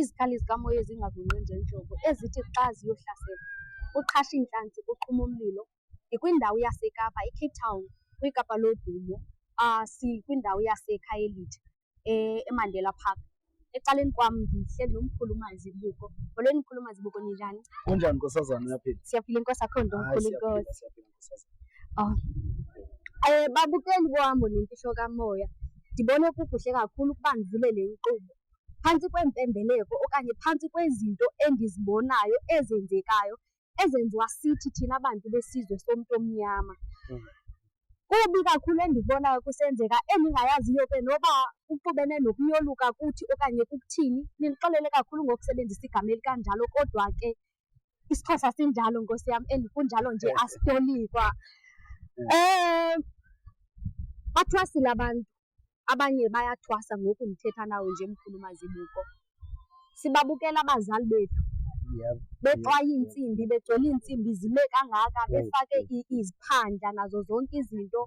izikhali zikamoya ezingagungqi nje nhlobo ezithi xa ziyohlasela uqhasha iintlanzi kuqhuma umlilo ndikwindawo yasekapa icape town kwikapa lodumo um sikwindawo yasekhayelitsha eh, emandela park ecaleni kwam ndihleli nomkhulu umazibuko molweni mkhulu umazibuko ninjani kunjani nkosazana uyaphila siyaphila inkosi akho nto mkhulu inkosi um eh, babukeli bohambo nemfihlo kamoya ndibone kukuhle kakhulu ukuba ndivule le nkqubo phantsi kweempembeleko okanye phantsi kwezinto endizibonayo ezenzekayo ezenziwa sithi thina bantu besizwe somntu omnyama. Mm. Kubi kakhulu endikubonayo kusenzeka endingayaziyo ke noba kuxubene nokuyoluka kuthi okanye kukuthini. Nindixolele kakhulu ngokusebenzisa igama elikanjalo kodwa ke isiXhosa sinjalo Nkosi yam and kunjalo nje asitolikwa. Um, bathwasile abantu Abanye bayathwasa ngoku ndithetha nawe nje Mkhulu Mazibuko. Sibabukela abazali bethu bexwaya iintsimbi, begcwele iintsimbi zime kangaka, befake iziphandla nazo zonke izinto,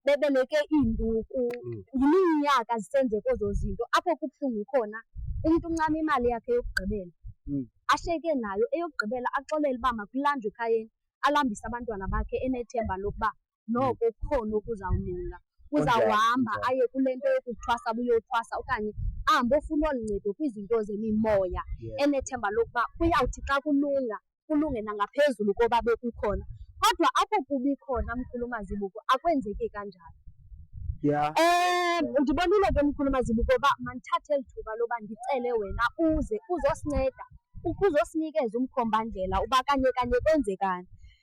bebeleke iinduku. Mm. Yiminyaka zisenzeka ezo zinto. Apho kubuhlungu khona umntu uncama imali yakhe yokugqibela, mm. ashiyeke nayo eyokugqibela, axolele uba makulanjwe ekhayeni, alambise abantwana bakhe enethemba lokuba noko kukhona okuzawulunga uzawuhamba aye kule nto yokuthwasa buyothwasa okanye ahambe ofuna olu ncedo kwizinto zemimoya enethemba lokuba kuyawuthi xa kulunga kulunge nangaphezulu koba bekukhona kodwa apho kubi khona mkhulu mazibuko akwenzeki kanjalo Yeah. Eh ndibonile ke mkhulu mazibuko uba mandithathe eli thuba loba ndicele wena uze uzosinceda ukuze usinikeze umkhombandlela uba kanye kanye kwenzekani.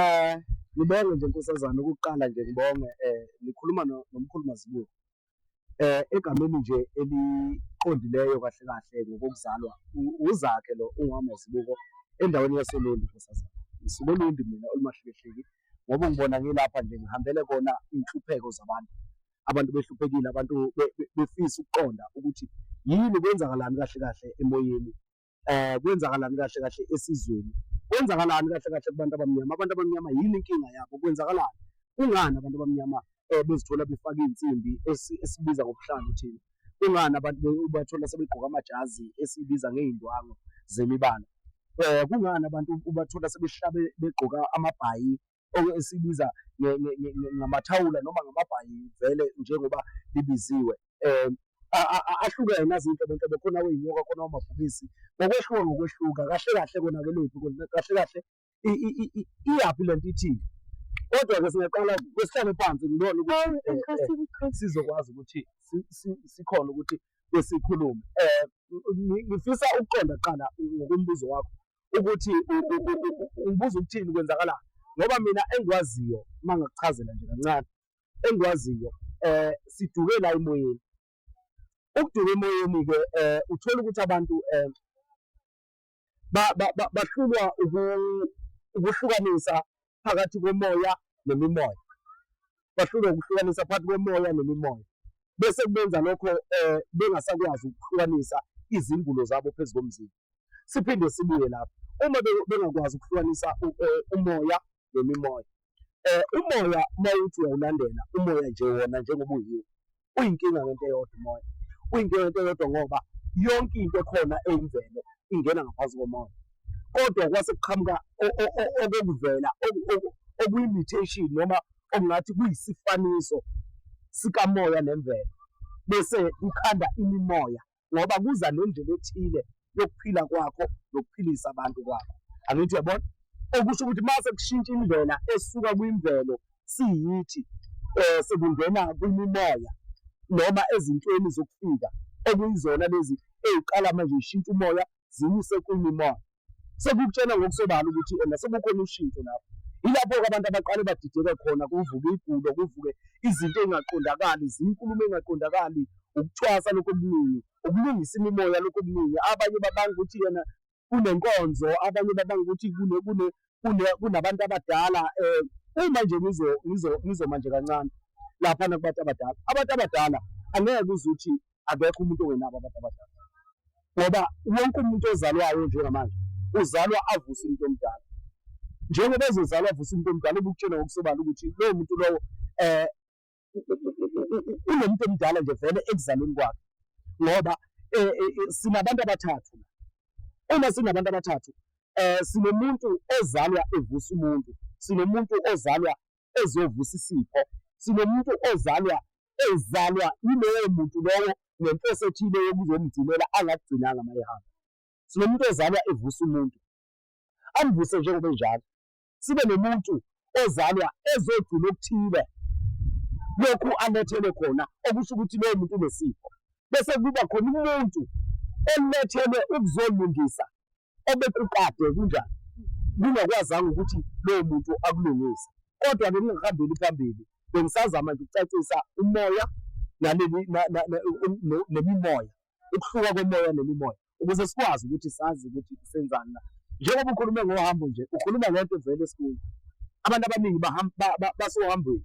Eh ngibonge nje nkosazana ukuqala nje ngibonge eh nikhuluma nomkhulu Mazibuko. Eh egameni nje eliqondileyo kahle kahle ngokuzalwa uzakhe lo ungamazibuko endaweni yasolundu nkosazana. Ngisuke olundi mina olumahlekehleki ngoba ngibona ngilapha nje ngihambele kona inhlupheko zabantu. Abantu behluphekile abantu befisa ukuqonda ukuthi yini kwenzakalani kahle kahle emoyeni eh kwenzakalani kahle kahle esizweni kwenzakalani kahle kahle kubantu abamnyama abantu abamnyama yini inkinga yabo kwenzakalani kungani abantu abamnyama eh bezithola befaka insimbi esibiza ngobuhlanga uthini kungani abantu ubathola sebegqoka amajazi esibiza ngeindwango zemibala eh kungani abantu ubathola sebehlabe begqoka amabhayi esibiza ngamathawula noma ngamabhayi vele njengoba libiziwe um ahlukene nazinto abantu bekhona weyinyoka khona wamabhubisi ngokwehluka ngokwehluka kahle kahle konake liphi kahle kahle iyaphi le nto ithini kodwa-ke singaqala kwesihlale phansi ngibone ukuthi sizokwazi ukuthi sikhona ukuthi besikhulume um ngifisa ukuqonda kuqala ngokombuzo wakho ukuthi ungibuza ukuthini kwenzakalani ngoba mina engikwaziyo uma ngakuchazela nje kancane engikwaziyo um siduke la emoyeni ukuduka emoyeni-ke um uthole ukuthi abantu um bahlulwa ukuhlukanisa phakathi komoya nemimoya, bahlulwe ukuhlukanisa phakathi komoya nemimoya, bese kubenza lokho um bengasakwazi ukuhlukanisa izingulo zabo phezu komzimba. Siphinde sibuye lapho uma bengakwazi ukuhlukanisa eh, umoya nemimoya. Um umoya uma uthi uyawulandela umoya nje wona njengoba uyiwo uyinkinga ngento eyodwa umoya uyinkinga ngento eyodwa ngoba yonke into ekhona eyimvelo ingena ngaphansi komoya kodwa kwase kuqhamuka okokuvela okuyi-mutation noma okungathi kuyisifaniso sikamoya nemvelo bese kukhanda imimoya ngoba kuza nendlela ethile yokuphila kwakho nokuphilisa abantu kwakho angithi yabona okusho ukuthi uma sekushintsha indlela esuka kwimvelo siyithi um sekungena kwimimoya noma ezintweni zokufika okuyizona lezi ey'qala manje zishintsha umoya ziyise kwi-pneumonia. Sekukutshena ngokusobala ukuthi ena sekukhona ushintsho lapho. Yilapho-ke abantu abaqale badideke khona, kuvuke igulo, kuvuke izinto ey'ngaqondakali, zinkulumo ey'ngaqondakali, ukucwasa lokhu okuningi, ukulungisa imimoya lokhu okuningi. Abanye babanga ukuthi yena kunenkonzo, abanye babanga ukuthi kunabantu abadala um uma nje ngizoma nje kancane laphana kubantu abadala. Abantu abadala angeke uze uthi akekho umuntu ongenabo abantu abadala, ngoba wonke umuntu ozalwayo njengamanje uzalwa avuse umuntu omdala. Njengoba ezozalwa avuse umuntu omdala, ubukutshena ngokusobala ukuthi lowo muntu lowo um unomuntu omdala nje vele ekuzalweni kwakhe, ngoba um sinabantu abathathu. Uma sinabantu abathathu um sinomuntu ozalwa evusa umuntu, sinomuntu ozalwa ezovusa isipho, sinomuntu ozalwa ezalwa yilowo muntu lowo ngenhloso ethile yokuzomgcinela angakugcinanga uma ehamba. Sinomuntu ozalwa evusa umuntu, amvuse njengoba enjalo. Sibe nomuntu ozalwa ezogcina okuthile lokhu alethelwe khona, okusho ukuthi lowo muntu unesifo. Bese kuba khona umuntu olethelwe ukuzolungisa obekukade kunjani kungakwazanga ukuthi lowo muntu akulungise kodwa ke kungahambeli phambili bengisazama nje ukucacisa umoya naleli nemimoya ukuhluka komoya nemimoya ukuze sikwazi ukuthi sazi ukuthi senzani na njengoba ukhulume ngohambo nje ukhuluma ngento evele esikhulu abantu abaningi basohambweni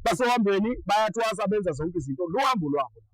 basohambweni bayathwasa benza zonke izinto luhambo lwabo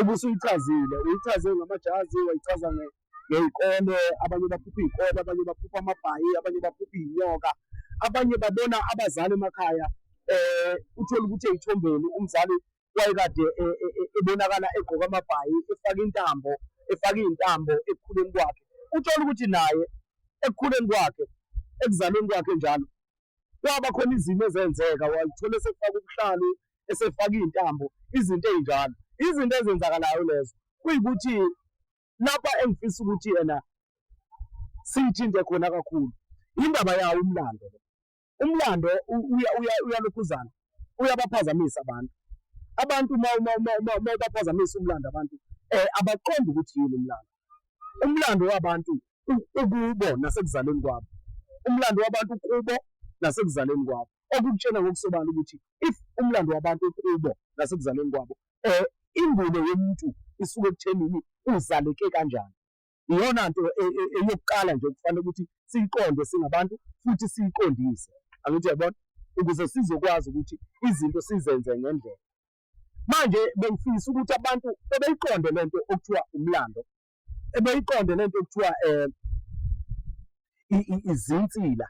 Uma usuyichazile, uyichaze ngamajazi, wayichaza ngey'kole, abanye baphupha iy'kole, abanye baphupha amabhayi, abanye baphupha iy'nyoka, abanye babona abazali emakhaya. Eh, uthole ukuthi ey'thombeni umzali wayekade e, e, e, ebonakala egqoka amabhayi, efake intambo, efake iy'ntambo ekukhuleni kwakhe. Uthole ukuthi naye ekukhuleni kwakhe, ekuzalweni kwakhe njalo, kwaba khona izimo ezenzeka walithola esefaka ubuhlalu esefaka iy'ntambo izinto ey'njalo izinto ezenzakalayo lezo kuyikuthi lapha engifisa ukuthi yena siyithinte khona kakhulu indaba yawo umlando umlando uyalokhuzana uyabaphazamisa abantu. Abantu uma uma uma uma uma ubaphazamisa umlando abantu eh abaqondi ukuthi yini umlando. Umlando wabantu u- ukubo nasekuzalweni kwabo. Umlando wabantu kubo nasekuzalweni kwabo. Okukutshena ngokusobala ukuthi if umlando wabantu kubo nasekuzalweni kwabo eh ingubo yomuntu isuke ekuthenini uzaleke kanjani. iyona nto e, e, eyokuqala nje okufanele ukuthi siyiqonde singabantu futhi siyiqondise angithi yabona ukuze sizokwazi ukuthi izinto sizenze ngendlela manje bengifisa ukuthi abantu bebeyiqonde le nto okuthiwa umlando ebeyiqonde le nto okuthiwa um izinsila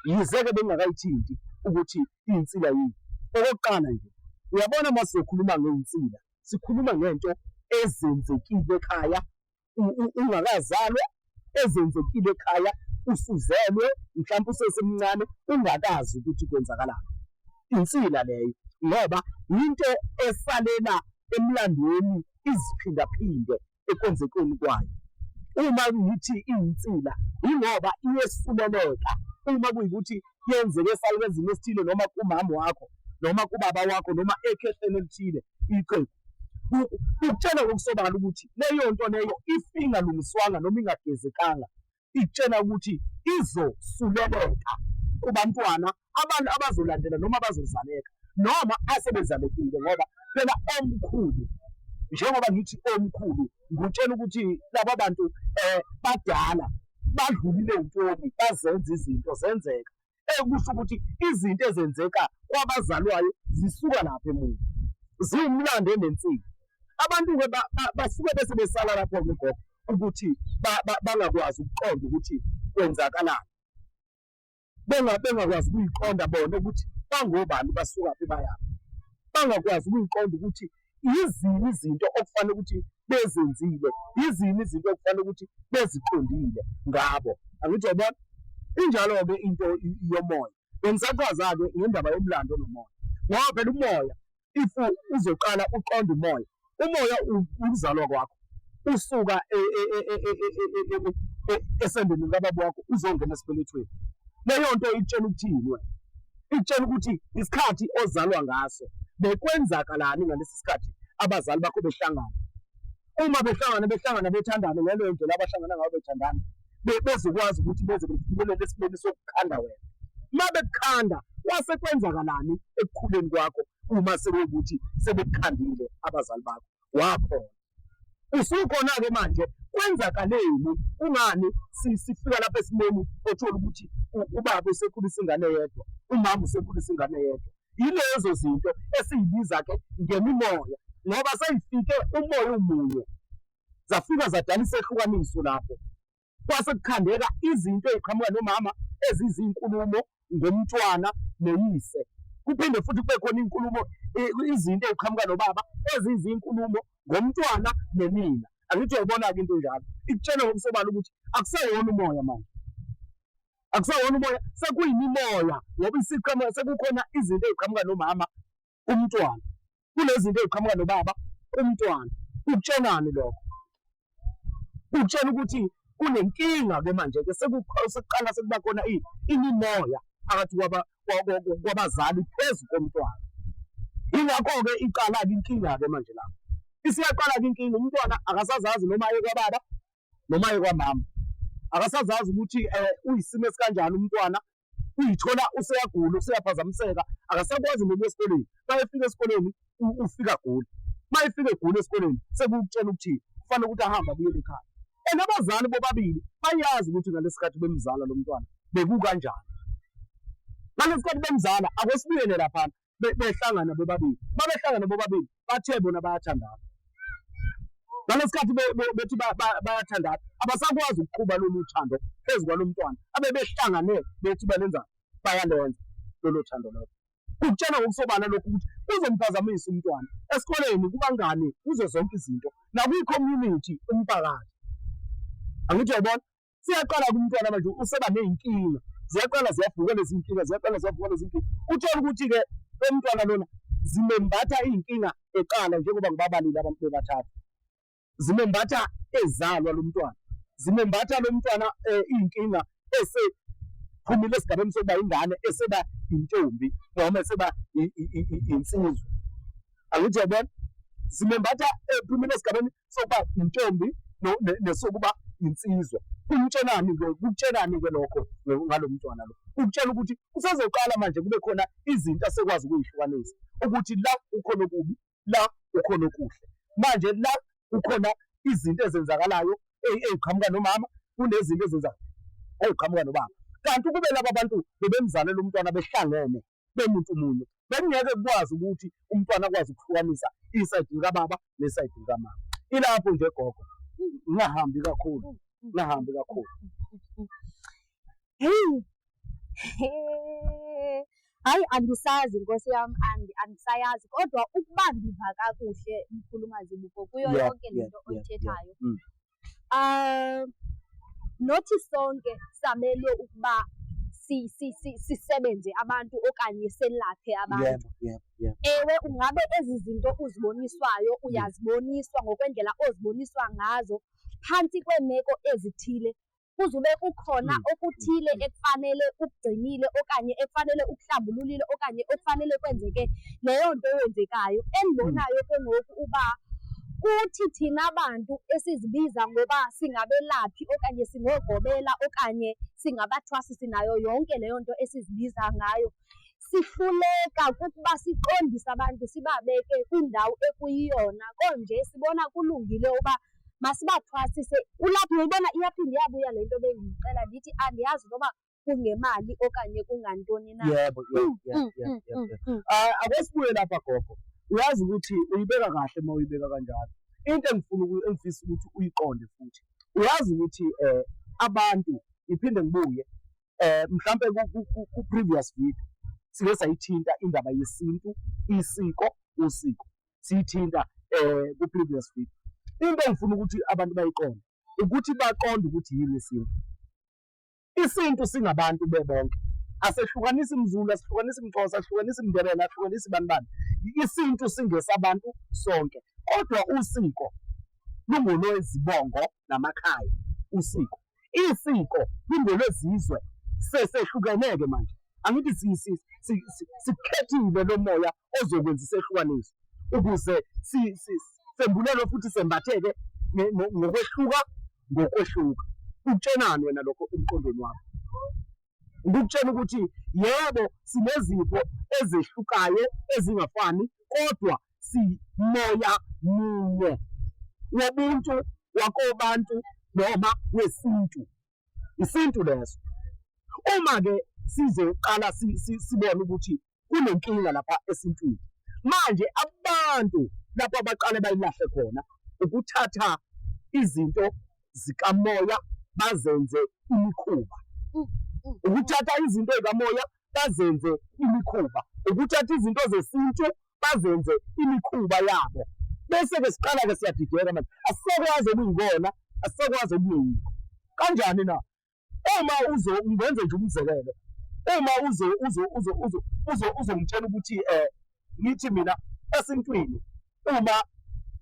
yize-ke bengingakayithinti ukuthi iyinsila yini okokuqala nje uyabona uma sizokhuluma ngeyinsila sikhuluma ngento ezenzekile ekhaya ungakazalwa ezenzekile ekhaya usuzelwe mhlawumbe usesemncane ungakazi ukuthi kwenzakalani insila leyo ngoba into esalela emlandweni iziphindaphinde ekwenzekeni kwayo uma ngithi insila ingoba iyesuleleka uma kuyikuthi yenzeke esalukenzini esithile noma kumama wakho noma kubaba wakho noma ekhehleni elithile iqembu Ukutshela ngokusobala ukuthi leyo nto leyo if ingalungiswanga noma ingagezekanga ikutshela ukuthi izosuleleka kubantwana abantu abazolandela noma abazozaleka noma asebezalekile ngoba phela omkhulu njengoba ngithi omkhulu ngutshela ukuthi laba bantu um badala badlulile ntoni bazenza izinto zenzeka ekusho ukuthi izinto ezenzeka kwabazalwayo zisuka lapha emuva ziwumlando onensika abantu-ke basuke bese besala lapho kugogo ukuthi bangakwazi ukuqonda ukuthi kwenzakalani bengakwazi ukuyiqonda bona ukuthi bangobani basukaphi bayaphi bangakwazi ukuyiqonda ukuthi yizini izinto okufanele ukuthi bezenzile, yizini izinto okufanele ukuthi beziqondile ngabo. Angithi uyabona? Injalo-ke into yomoya. Bengisachaza-ke ngendaba yomlando nomoya ngoba phela umoya if uzoqala uqonde umoya, umoya ukuzalwa kwakho usuka esendeni likababa wakho uzongena esibelethweni. Leyo nto ikutshela ukuthini wena? Ikutshela ukuthi isikhathi ozalwa ngaso bekwenzakalani ngalesi sikhathi abazali bakho behlangana. Uma behlangana behlangana bethandana ngaleyo ndlela abahlangana ngayo bethandana bezokwazi ukuthi beze befinyelele esimeni sokukhanda wena. Uma bekukhanda kwase kwenzakalani ekukhuleni kwakho uma sekuwukuthi sebekukhandile abazali bakho? wakhona usukhona-ke manje kwenzakaleni kungani sifika lapha esimeni othola ukuthi ubaba usekhulisa ingane yedwa umama usekhulisa ingane yedwa yilezo zinto esiyibiza-ke ngemimoya ngoba seyifike umoya umunye zafika zadala isehlukaniso lapho kwase kukhandeka izinto eziqhamuka nomama ezizinkulumo ngomntwana noyise kuphinde futhi kube khona inkulumo izinto eziqhamuka nobaba ezizinkulumo ngomntwana nenina angithi uyayibona-ke into enjalo ikutshela ngokusobala ukuthi akusewona umoya manje akusewona umoya sekuyimimoya ngoba isiqhamuka sekukhona izinto eziqhamuka nomama umntwana kunezinto eziqhamuka nobaba umntwana ukutshelani lokho ukutshela ukuthi kunenkinga ke manje ke sekuqala sekuba khona imimoya phakathi kwabazali phezu komntwana yingakho-ke iqala-ke inkinga-ke manje lapho isiyaqala-ke inkinga umntwana akasazazi noma aye kwababa noma aye kwamama akasazazi ukuthi um uyisimo esikanjani umntwana uyithola useyagula useyaphazamiseka akasakwazi nokuya esikoleni mayefika esikoleni ufika gula mayefika egula esikoleni sekukutshela ukuthi kufanele ukuthi ahambe abuyele ekhaya and abazali bobabili bayazi ukuthi ngalesikhathi bemzala lo mntwana bekukanjani ngalesikhathi bemzala akwesibuyele laphana behlangana bobabili, babehlangana bobabili bathe bona bayathandana ngalesikhathi bethi bayathandana abasakwazi ukuqhuba lolu thando phezu kwalo mntwana abebehlangane bethi balenza bayalenza lolo thando lolo kukutshela ngokusobala lokhu ukuthi kuzomphazamisa umntwana esikoleni kubangani kuzo zonke izinto nakwi-community umphakathi angithi yabona siyaqala kumntwana manje useba ney'nkinga ziyaqala ziyavuka lezi nkinga ziyaqala ziyavuka lezi nkinga uthole ukuthi-ke umntwana lona zimembatha iy'nkinga eqala njengoba ngibabalile abantu bebathathu zimembatha ezalwa lo mntwana zimembatha lo mntwana um iy'nkinga esephumile esigabeni sokuba ingane eseba intombi noma eseba insizwa angithi yabona zimembatha ephumile esigabeni sokuba yintombi nesokuba yinsizwa kumtshelani ke kukutshelani ke lokho ngalo mntwana lo ukutshela ukuthi usezoqala manje kube khona izinto asekwazi ukuyihlukanisa ukuthi la ukhona okubi la ukhona okuhle manje la kukhona izinto ezenzakalayo eziqhamuka nomama kunezinto ezenzakalayo eziqhamuka nobaba kanti ukube laba bantu bebemzalele umntwana behlangene bemuntu munye bekungeke kukwazi ukuthi umntwana akwazi ukuhlukanisa isayidi likababa nesayidi likamama ilapho nje gogo ngingahambi kakhulu ngingahambi kakhulu heyi hayi andisazi nkosi yam andisayazi kodwa ukuba ndiva kakuhle mkhulumazibuko kuyo yonke le nto oyithethayo mm. um nothi sonke samelwe ukuba sisebenze abantu okanye selaphe abantu. Ewe, ungabe ezi zinto uziboniswayo uyaziboniswa ngokwendlela oziboniswa ngazo phantsi kweemeko ezithile kuzube kukhona mm. okuthile mm. ekufanele ukugcinile okanye ekufanele ukuhlambululile okanye ekufanele kwenzeke leyo nto eyenzekayo endibonayo ke ngoku uba kuthi thina bantu esizibiza ngoba singabelaphi okanye singogobela okanye singabathwasisi nayo yonke leyo nto esizibiza ngayo Sihluleka kukuba siqondise abantu sibabeke kwindawo ekuyiyona konje sibona kulungile uba masibathwasise. Kulapho uyibona iyaphinde iyabuya le nto bendiyixela ndithi andiyazi noba kungemali okanye kungantoni na. Yebo, yebo, Mm, yebo, mm, yebo, mm, yebo, mm, yebo. mm. Ah, Ake sibuye lapha gogo. Uyazi ukuthi uyibeka kahle uma uyibeka kanjalo. Into engifuna uku- engifisa ukuthi uyiqonde futhi. Uyazi ukuthi eh abantu ngiphinde ngibuye eh mhlambe ku previous video sike sayithinta indaba yesintu isiko usiko sithinta eh ku previous video into engifuna ukuthi abantu bayiqonde ukuthi baqonde ukuthi yini isintu isintu singabantu bebonke asehlukanisi mzulu asihlukanisi mxhosa asihlukanisi mndebele asihlukanisi bani bani isintu singesabantu sonke kodwa usiko lungolwezibongo namakhaya usiko isiko lingolwezizwe sesehlukeneke manje angithi sikhethile lo moya ozokwenza isehlukaniso ukuze sembulelwe futhi sembatheke ngokwehluka ngokwehluka ukutshenani wena lokho emqondweni wakho ngikutshela ukuthi yebo sinezipho ezehlukayo ezingafani kodwa simoya munye wobuntu wakobantu noma wesintu isintu leso uma ke sizoqala sibone ukuthi kunenkinga lapha esintwini manje abantu lapho abaqale bayilahle khona ukuthatha izinto zikamoya bazenze imikhuba mm, mm. ukuthatha izinto zikamoya bazenze imikhuba ukuthatha izinto zesintu bazenze imikhuba yabo bese-ke siqala-ke siyadideka manje asisakwazi okuyikona asisakwazi okungeyikho kanjani na uma uzo ungenze nje umzekelo uma uzo uzo uzo uzo uzo uzongitshela ukuthi eh ngithi mina esintwini uma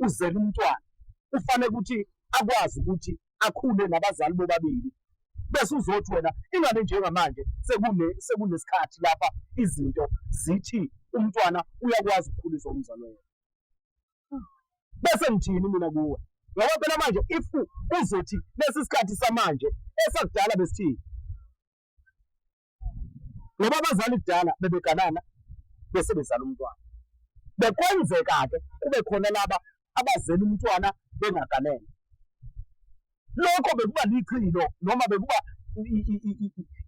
uzela umntwana kufanele ukuthi akwazi ukuthi akhule nabazali bobabili bese uzothi wena ingane njengamanje sekune sekunesikhathi lapha izinto zithi umntwana uyakwazi ukukhulisa umzali wena bese ngithini mina kuwe ngoba phela manje if uzothi lesi sikhathi samanje esakudala besithini ngoba abazali kudala bebeganana bese bezala umntwana. Bekwenzeka-ke kube khona laba abazela umntwana bengaganene. Lokho bekuba lichilo noma bekuba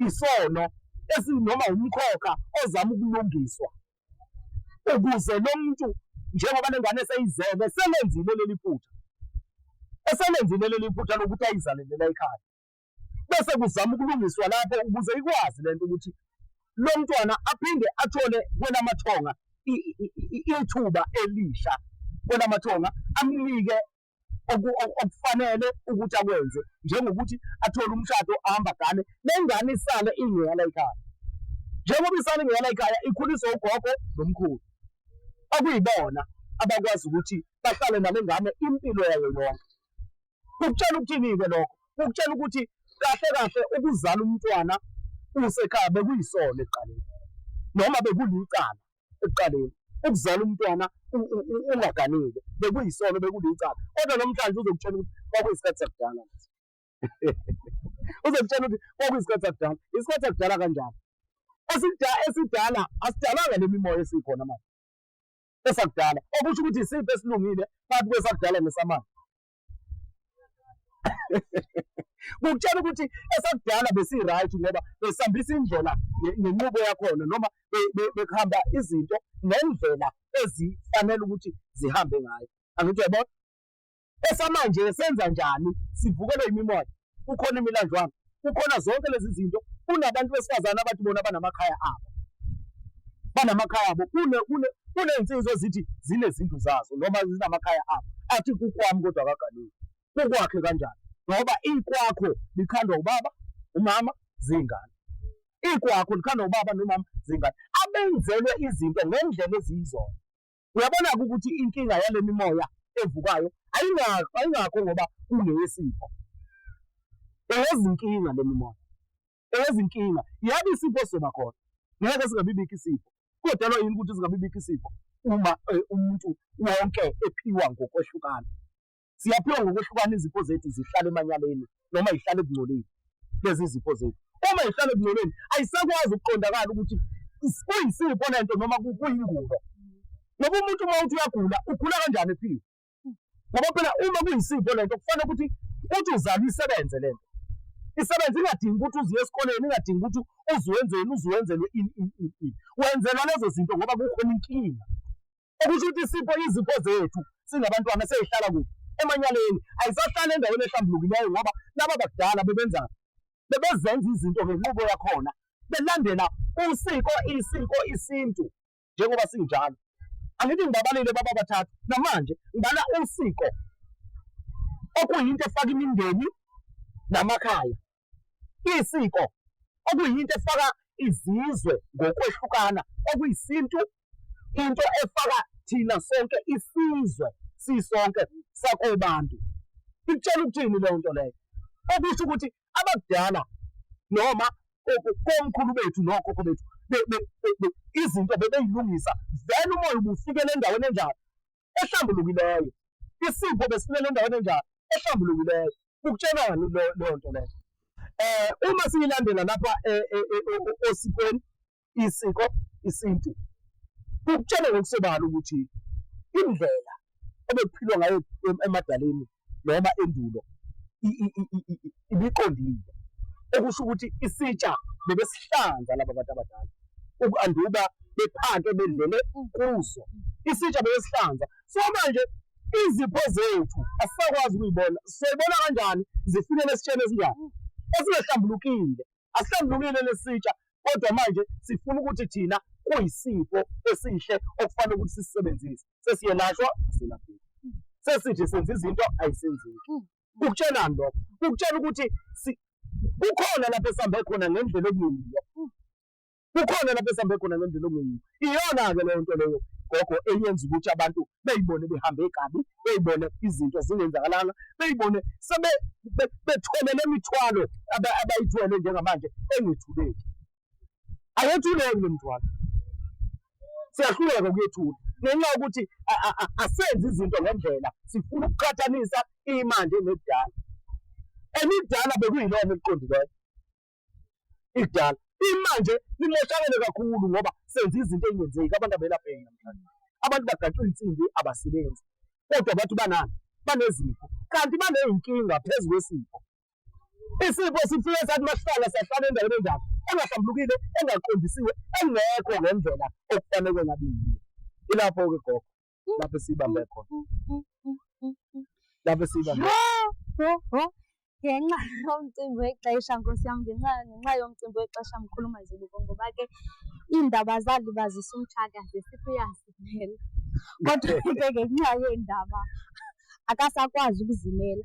isono esinoma umkhokha ozama ukulungiswa ukuze lo muntu njengoba le ngane eseyizele selenzile leli phutha eselenzile leli phutha lokuthi ayizalele la ekhaya bese kuzama ukulungiswa lapho ukuze ikwazi lento ukuthi lo mntwana aphinde athole kwelamathonga ithuba elisha kwelamathonga amnike okufanele ukuthi akwenze njengokuthi athole umshado ahamba gane nengane isale ingeyala ikhaya njengoba isale ingeyala ikhaya ikhuliswa ugogo nomkhulu okuyibona abakwazi ukuthi bahlale nale ngane impilo yayo yonke Kukutshela ukuthini-ke lokho? Kukutshela ukuthi kahle kahle ukuzala umntwana usekhaya bekuyisono ekuqaleni noma bekulicala ekuqaleni ukuzala umntwana ungaganile bekuyisono bekulicala kodwa namhlanje uzokutshela ukuthi kwakuyisikhathi sakudala uzokutshela ukuthi kwakuyisikhathi sakudala isikhathi sakudala kanjani esidala asidalanga le mimoya esikhona manje esakudala okusho ukuthi isiphi esilungile phakathi kwesakudala nesamanje ngokutshela ukuthi esakudala besi-right ngoba besihambisa indlela ngenqubo yakhona noma bekuhamba izinto ngendlela ezifanele ukuthi zihambe ngayo angithi yabona esamanje senza njani sivukelwe imimoya kukhona imilandlwana kukhona zonke lezi zinto kunabantu besifazane abathi bona banamakhaya abo banamakhaya abo kunezinsizwa ezithi zinezindlu zazo noma zinamakhaya abo athi kukwami kodwa akaganiwe kukwakhe kanjani ngoba ikwakho likhandwa ubaba umama zingane ikwakho likhandwa ubaba nomama zingane abenzelwe izinto ngendlela eziyizona Uyabona-ke ukuthi inkinga yale mimoya evukayo ayingakho ayingakho ngoba kungeyesipho eyezinkinga le mimoya eyezinkinga yabe isipho soba khona ngeke singabibikho isipho kodalwa yini ukuthi singabibikho isipho uma eh, umuntu wonke ephiwa ngokwehlukana Siyaphiwa ngokwehlukana izipho zethu zihlale emanyaleni noma zihlale ekungcoleni lezi zipho zethu. Uma zihlale ekungcoleni ayisakwazi ukuqondakala ukuthi kuyisipho lento noma kuyingubo. Ngoba umuntu uma uthi uyagula ugula kanjani ephiwe? Ngoba phela uma kuyisipho lento kufanele ukuthi uthi uzalwa isebenze lento. Isebenze ingadingi ukuthi uziye esikoleni, ingadingi ukuthi uziwenzeni, uziwenzelwe ini ini ini. Wenzelwa lezo zinto ngoba kukhona inkinga. okusho ukuthi isipho izipho zethu singabantwana seyihlala kuphi emanyaleni ayisahlali endaweni ehlambulukileyo ngoba laba bakudala bebenza bebezenza izinto ngenqubo yakhona belandela usiko isiko isintu njengoba sinjalo angithi ngibabalile baba bathathu namanje ngibala usiko okuyinto efaka imindeni namakhaya Isiko okuyinto efaka izizwe ngokwehlukana okuyisintu, into efaka thina sonke isizwe sisonke sakobantu. Ikutshela ukuthini leyo nto leyo? Okusho ukuthi abakudala noma komkhulu bethu nokhokho bethu izinto bebeyilungisa, then umoya ubufikela endaweni enjalo ehlambulukileyo isipho besifunela endaweni enjalo ehlambulukileyo ukutshengani leyo nto leyo um uma siyilandela lapha eh, eh, osikweni isiko isintu kukutshela ngokusobala ukuthi indlela obekuphilwa ngayo emadaleni noma endulo ibiqondile, okusho ukuthi isitsha bebesihlanza laba bantu abadala ukanduba bephake bedlele kuso isitsha bebesihlanza so manje izipho zethu asisakwazi ukuyibona soyibona kanjani zifinele esitsheni esinjani esingahlambulukile asisandlulile lesitsha kodwa manje sifuna ukuthi thina kuyisipho esihle okufanele ukuthi sisisebenzise sesiyelashwa asilapheki sesithi senza izinto ayisenzeki hmm. kukutshengani lokho kukutshela ukuthi kukhona lapho esihambe khona ngendlela okulungile kukhona lapho esihambe khona ngendlela ongeyiyo iyona-ke leyo nto leyo gogo eyenza ukuthi abantu beyibone behambe kabi beyibone izinto zingenzakalanga beyibone sebe bethwele le mithwalo abayithwele njengamanje engethuleki ayethuleki le mithwalo siyahluleka ukuyethula ngenxa yokuthi asenzi izinto ngendlela sifuna ukuqhathanisa imanje nekudala emidala bekuyilona eliqondileyo ikudala imanje limoshakele kakhulu ngoba senza izinto engenzeki abantu abelapheki namhlanje abantu bagaxwa insimbi abasebenzi kodwa bathi banani banezifo kanti baneyinkinga phezu kwesifo isifo sifike sathi masihlala siyahlala endaweni enjalo engahlambulukile engaqondisiwe engekho ngendlela okufanele ngabiyiyo ilapho-ke gogo lapho siyibambe khona lapho siyibambe ngenxa yomcimbi wexesha nkosi yam ngenxa ngenxa yomcimbi wexesha mkhulu mazibuko ngoba ke iindaba zalibazisa umtshaka zesithi uyasimela kodwa ke ngenxa yeendaba akasakwazi ukuzimela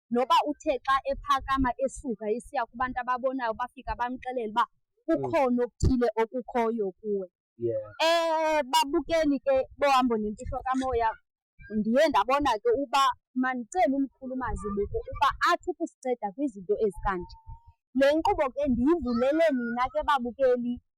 noba uthe xa ephakama esuka esiya kubantu ababonayo bafika bamxelele uba kukhona okuthile okukhoyo kuwe um babukeli ke bohambo nemfihlo kamoya ndiye ndabona ke uba mandicele umkhulu umazibuko uba athi ukusinceda kwizinto ezikanje le nkqubo ke ndiyivulele nina ke babukeli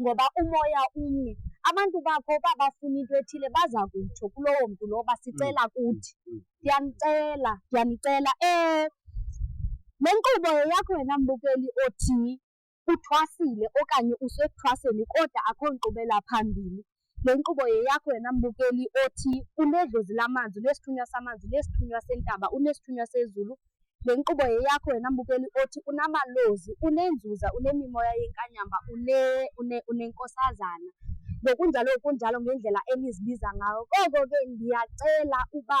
ngoba umoya umnye abantu bakho uba bafuna into ethile baza kutsho kulowo mntu lowo basicela mm. kuthi mm. ndiyanicela ndiyanicela um le nkqubo yeyakho wena mbukeli othi uthwasile okanye usekuthwaseni kodwa akho nkqubela phambili Le nkqubo yeyakho wena mbukeli othi unedlozi lamanzi, unesithunywa samanzi, unesithunywa sentaba, unesithunywa sezulu. Le nkqubo yeyakho wena mbukeli othi unamalozi, unenzuza, unemimoya yenkanyamba, une, une, unenkosazana. Ngokunjalo kunjalo ngendlela enizibiza ngayo. Koko ke ndiyacela uba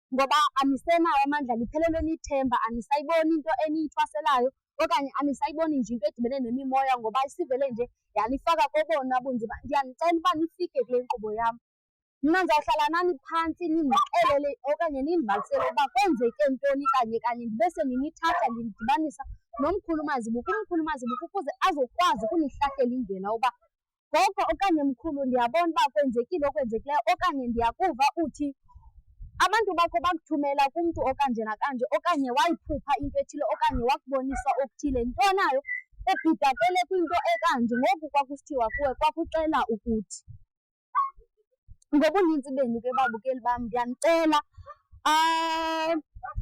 ngoba anisenawo amandla niphelelwe nithemba anisayiboni into eniyithwaselayo okanye anisayiboni nje into edibene nemimoya ngoba isivele nje yanifaka kobona bunzima ndiyanicela uba nifike kule nkqubo yam mna ndizawuhlala nani phantsi nindixelele okanye nindibalisele uba kwenzeke ntoni kanye kanye ndibe sendinithatha ndinidibanisa nomkhulu mazibuko umkhulu mazibuko ukuze azokwazi ukunihlahlela indlela uba gogo okanye mkhulu ndiyabona uba kwenzekile okwenzekileyo okanye ndiyakuva uthi abantu bakho bakuthumela kumntu okanje nakanje okanye wayiphupha into ethile okanye wakubonisa okuthile nto nayo ebhidakele kwinto ekanje ngoku kwakusithiwa kuwe kwakuxela ukuthi ngobuninzi benu ke babukeli bam ndiyanicela um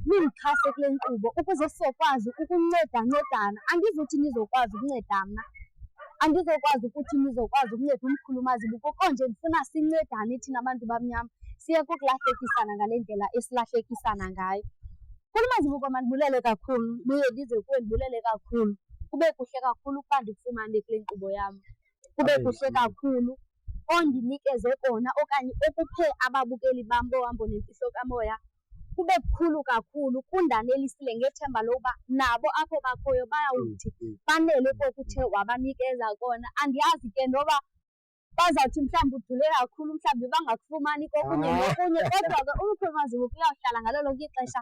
nindixhase kule nkqubo ukuze sizokwazi ukuncedancedana andizuthi nizokwazi ukunceda mna andizokwazi ukuthi nizokwazi ukunceda umkhulu mazibuko konje ndifuna sincedane thina bantu bamnyama siye kokulahlekisana ngale ndlela esilahlekisana ngayo mkhulu mazibuko mandibulele kakhulu buye ndize kuwe ndibulele kakhulu kube kuhle kakhulu ukuba ndikufumane kule nkqubo yam kube kuhle kakhulu ondinikeze kona okanye okuphe ababukeli bam bohambo nemfihlo kamoya kube kukhulu kakhulu kundanelisile ngethemba lokuba nabo apho bakhoyo bayawuthi mm, mm. banele kokuthe wabanikeza kona andiyazi ke noba bazawuthi mhlawumbi udule kakhulu mhlawumbi bangakufumani kokunye ah. nokunye kodwa ke umkhulumaziwo kuyawuhlala ngalo lonke ixesha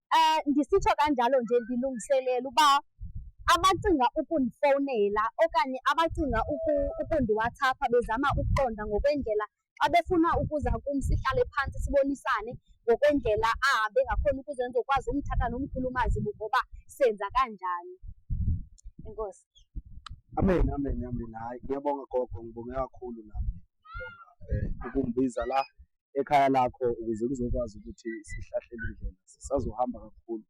um ndisitsho kanjalo nje ndilungiselela uba abacinga ukundifowunela okanye abacinga ukundiwathapha bezama ukuqonda ngokwendlela xa befuna ukuza kum sihlale phantsi sibonisane ngokwendlela ahambe ngakhona ukuze ndizokwazi umthatha nomkhulu umazibu ngoba senza kanjani enkosi amen amen amen hayi ngiyabonga gogo ngibonge kakhulu nami um ukumbiza la ekhaya lakho ukuze kuzokwazi ukuthi sihlahlele indlela sisazohamba kakhulu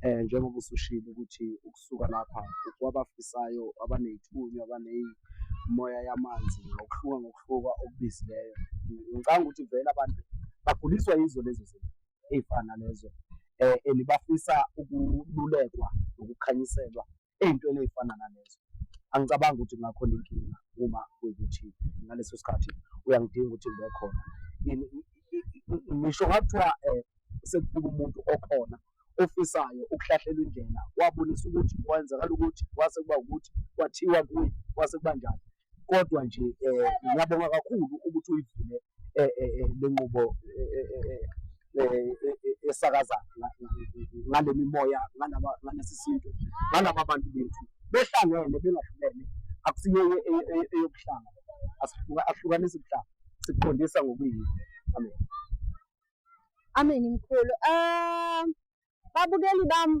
um njengoba usushilo ukuthi ukusuka lapha kwabafisayo abaney'thunywa abaney'moya yamanzi ngokuhluka ngokuhluka okubizileyo ngicanga ukuthi vele abantu baguliswa yizo lezo zinto ey'fana lezo um and bafisa ukululekwa nokukhanyiselwa ey'ntweni ey'fana nalezo angicabangi ukuthi kungakhona inkinga uma kuyikuthi ngaleso sikhathi uyangidinga ukuthi ngibe khona ngisho ngathiwa um eh, sekufika umuntu okhona ofisayo ukuhlahlela indlela wabonisa ukuthi kwenzakala ukuthi kwase kuba ukuthi kwathiwa kuye kwase kuba njani kodwa nje eh, ngiyabonga kakhulu ukuthi uyivule eh, eh, le nqubo esakaza ngale mimoya ngalesi sintu ngalaba bantu bethu behlangene bengahlukene akusiyo eyokuhlanga ahlukanisa ubuhlanga sikuqondisa ngokuyini amen amen mkhulu um babukeli bami